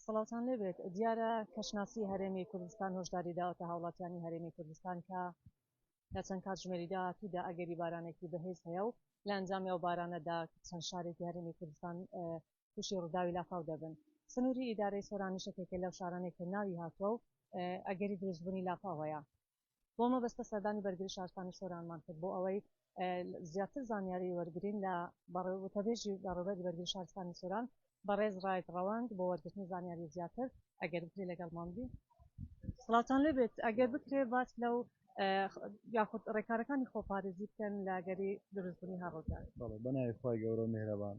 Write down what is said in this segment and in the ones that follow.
سڵاوتان لێبێت دیارە کەشناسی هەرێمی کوردستان هۆشداری داوەتە هاوڵاتیانی هەرێمی کوردستان کە لە چەند کاتژمێری داهاتوودا ئەگەری بارانێکی بەهێز هەیە و لە ئەنجامی ئەو بارانەدا چەند شارێکی هەرێمی کوردستان تووشی ڕووداوی لافاو دەبن سنووری ئیدارەی سۆرانیشەکێکە لەو شارانێک کە ناوی هاتووە و ئەگەری دروستبوونی لافاوەیە بۆ مەبەستە سەردانی بەرگری شارستانی سۆرانمان کرد بۆ ئەوەی زیاتر زانیاری وەرگرین لە وتەبێژی بەڕێوبەری بەرگری شارستانی سۆران بەڕێز ڕاید ڕەوەند بۆ وەرگرتنی زانیاری زیاتر ئەگەر بکرێ لەگەڵمان بی سڵاوتان لێ بێت ئەگەر بکرێ باس لەو یاخود ڕێکارەکانی خۆپارێزی بکەن لە گەری دروستبوونی هەڕۆکار بەڵێ بەناوی خی گەورە و مهرەبان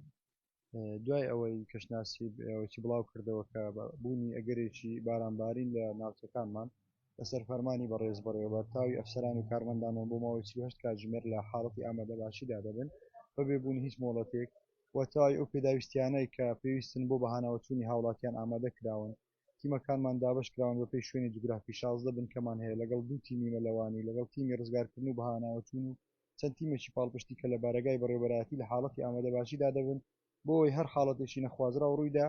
دوای ئەوەی کەشناسی ئەوەی بڵاو کردەوە کە بوونی ئەگەرێکی بارانبارین لە ناوچەکانمان لەسەر فەرمانی بەڕێز بەڕێوە تاوی ئەفسەران و کارمەندانەوە بۆ ماوەی چهشت کاتژمێر لە حاڵەتی ئامادە باشیدا دەبن بەبێ بوون هیچ مۆڵەتێک و تاوی ئەو پێداویستیانەی کە پێویستن بۆ بەهاناوەچوونی هاوڵاتیان ئامادە کراون تیمەکانمان دابەش کراون بەپێی شوێنی جوگرافی، شازدە بنکەمان هەیە لەگەڵ دوو تیمی مەلەوانی، لەگەڵ تیمی ڕزگارکردن و بەهاناوەچوون و چەند تیمێکی پاڵپشتی کە لە بارەگای بەڕێوەبەرایەتی لە حاڵەتی ئامادەباشیدا دەبن بۆ ئەوەی هەر حاڵەتێکی نەخوازراو ڕوویدا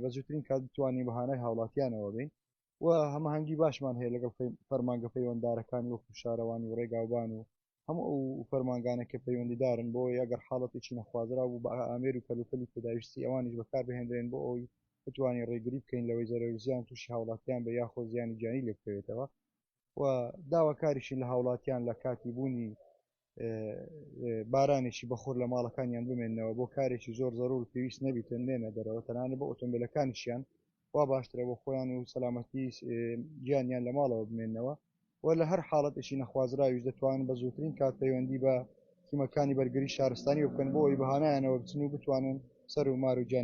بە زووترین کات بتوانین بەهانای هاوڵاتیانەوە بین و هەمەهەنگی باشمان هەیە لەگەڵ فەرمانگە پەیوەنددارەکانی وەکو شارەوانی و ڕێگاوبان و هەموو ئەو فەرمانگانە کە پەیوەندیدارن بۆ ئەگەر حاڵەتێکی نەخوازرا بوو بە ئامێر و کەلوپەلی پێداویستی ئەوانیش بەکار بهێنرێن بۆ ئەوی بتوانین ڕێگری بکەین لەوەی زەرەرزیان تووشی هاوڵاتیان بە یاخۆ زیانی گیانی لێ بکەوێتەوە و داواکاریشین لە هاوڵاتیان لە کاتی بوونی بارانێکی بەخۆر لە ماڵەکانیان بمێنەوە بۆ کارێکی زۆر زەرور پێویست نەبیتن نێنە دەرەوە تەنانە بە ئۆتۆمبیلەکانیشیان وا باشترە بۆ خۆیان و سەلامەتی گیانیان لە ماڵەوە بمێنەوە و لە هەر حاڵەتێکی نەخوازراویش دەتوانن بە زووترین کات پەیوەندی بە تیمەکانی بەرگری شارستانی بکەن بۆ ئەوی بەهانایانەوە بچن و بتوانن سەر و مار و گیان